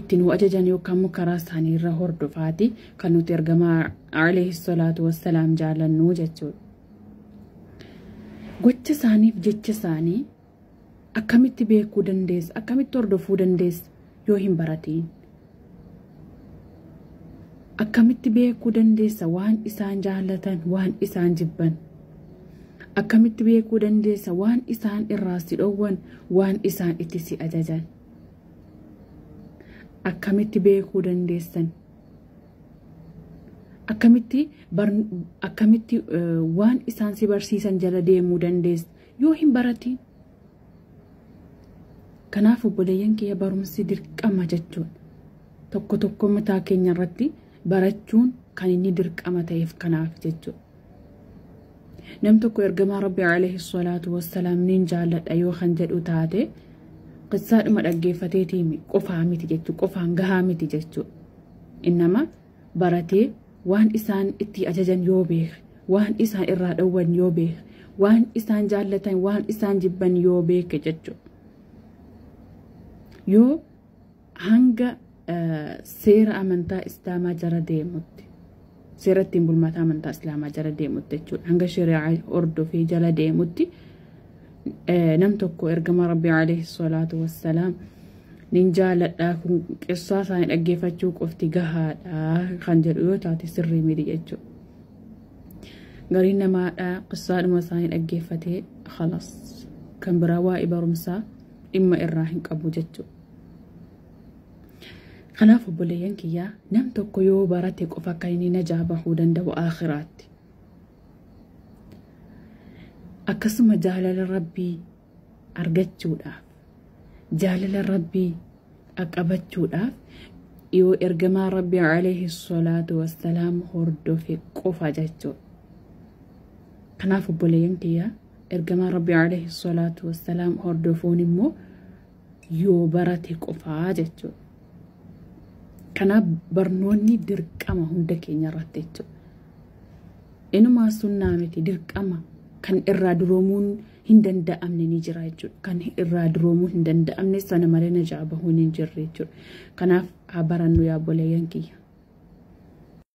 itti nu ajajan yookaan immoo karaa isaanii irra hordofaati kan nuti ergamaa alayhi salaatu wassalaam jaalannuu jechuudha. Gocha isaaniif jecha isaanii akkamitti beekuu dandeessa akkamitti hordofuu dandeessa yoo hin baratiin. Akkamitti beekuu dandeessa waan isaan jaallatan waan isaan jibban. Akkamitti beekuu dandeessa waan isaan irraa si dhowwan waan isaan itti si ajajan. akkamitti beekuu dandeessan akkamitti akkamitti waan isaan si barsiisan jala deemuu dandeessa yoo hin baratiin kanaaf obboleeyyan kiyya barumsi dirqama jechuun tokko tokko mataa keenya irratti barachuun kan inni dirqama ta'eef kanaaf jechuudha. nam tokko ergamaa rabbi alayhi salaatu wassalaam nin jaalladha yoo kan jedhu taate qissaadhuma dhaggeeffateetii qofaa miti jechuu qofaan gahaa miti jechuu innama baratee waan isaan itti ajajan yoo beeke waan isaan irraa dhowwan yoo beeke waan isaan jaallatan waan isaan jibban yoo beeke jechuu yoo hanga seera amantaa islaamaa jara deemutti seera ittiin bulmaata amantaa islaamaa jara deemutti jechuudha hanga shari'aa hordofee jala deemutti nam tokko ergama rabbii alayhi salaatu wassalaam nin jaaladha kun qissaa isaanii dhaggeeffachuu qofti gahaadha kan jedhu yoo taate sirrii miti jechuudha. Gariin namaadha qissaadhuma isaanii dhaggeeffatee halas kan biraa waa'ee barumsaa dhimma irraa hin qabu jechuudha. Kanaaf obboleeyyan kiyyaa nam tokko yoo barate qofa akka inni najaa bahuu danda'u aakhiraatti. Akkasuma jaalala rabbii argachuudhaaf jaalala rabbii qaqqabachuudhaaf yoo ergamaa rabbii alayhi salaatu wassalaam hordofe qofa jechuudha. Kanaaf obboleeyyan kiyyaa ergamaa rabbii alayhi salaatu wassalaam hordofuun immoo yoo barate qofaa jechuudha. Kanaaf barnoonni dirqama hunda keenya irratti jechuudha. Inumaa sunnaa miti dirqama kan irraa duroomuun hin danda'amne ni jira jechuudha. Kan irraa duroomuu hin danda'amne sana malee najaa bahuun hin jirre jechuudha. Kanaaf haa barannu yaa boleeyyan kiyya.